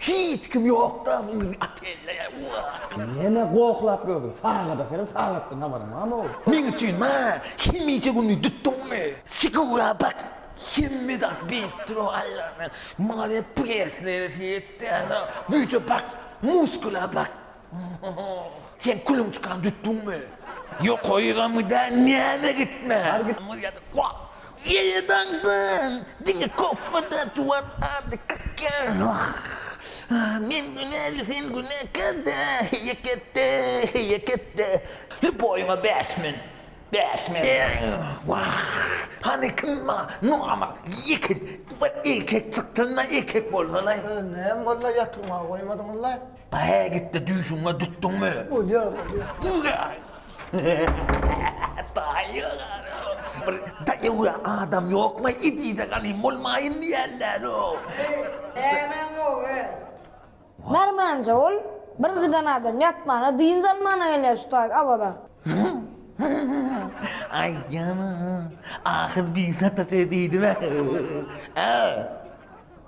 Hiç kim ýokda biziň otelde ýa. Ýene gohlap gördüm. Sagada seren sagatdan habaryň barmy oglum. Meň üçin ma hemişe gününi dütdüňmi. Sigura bak hemme zat beyipdir o Allana maňa hep presnere seyret däne güýje bak muskula bak. Sen külüň çykan dütdüňmi? Ýokaýygamyň dä näme gitme. Ýaýadaňdan diňe koffe dä tuwal ady kakýar. Men günäli sen günäkär dä heýeketde heýeketde. Hä boýuňa bäş men bäş men. Wah hany kim ba nohama ýeke bir erkek çykdyna erkek bolsalaý. Näme boldy ýatyrmaga goýmadyňyzlaý. Hä gitdi düýşüňe dütdüňmi? Bolýar bolýar. Bir daýaw adam ýokmy idide galyň bolmaýyn diýenler o. Nämäň gowy? Därmanja ol bir giden adam ýatmana dynç almana gelýär şu taýy Awaza. Aýtýan ahyr bir sata söz diýdibe. Ä.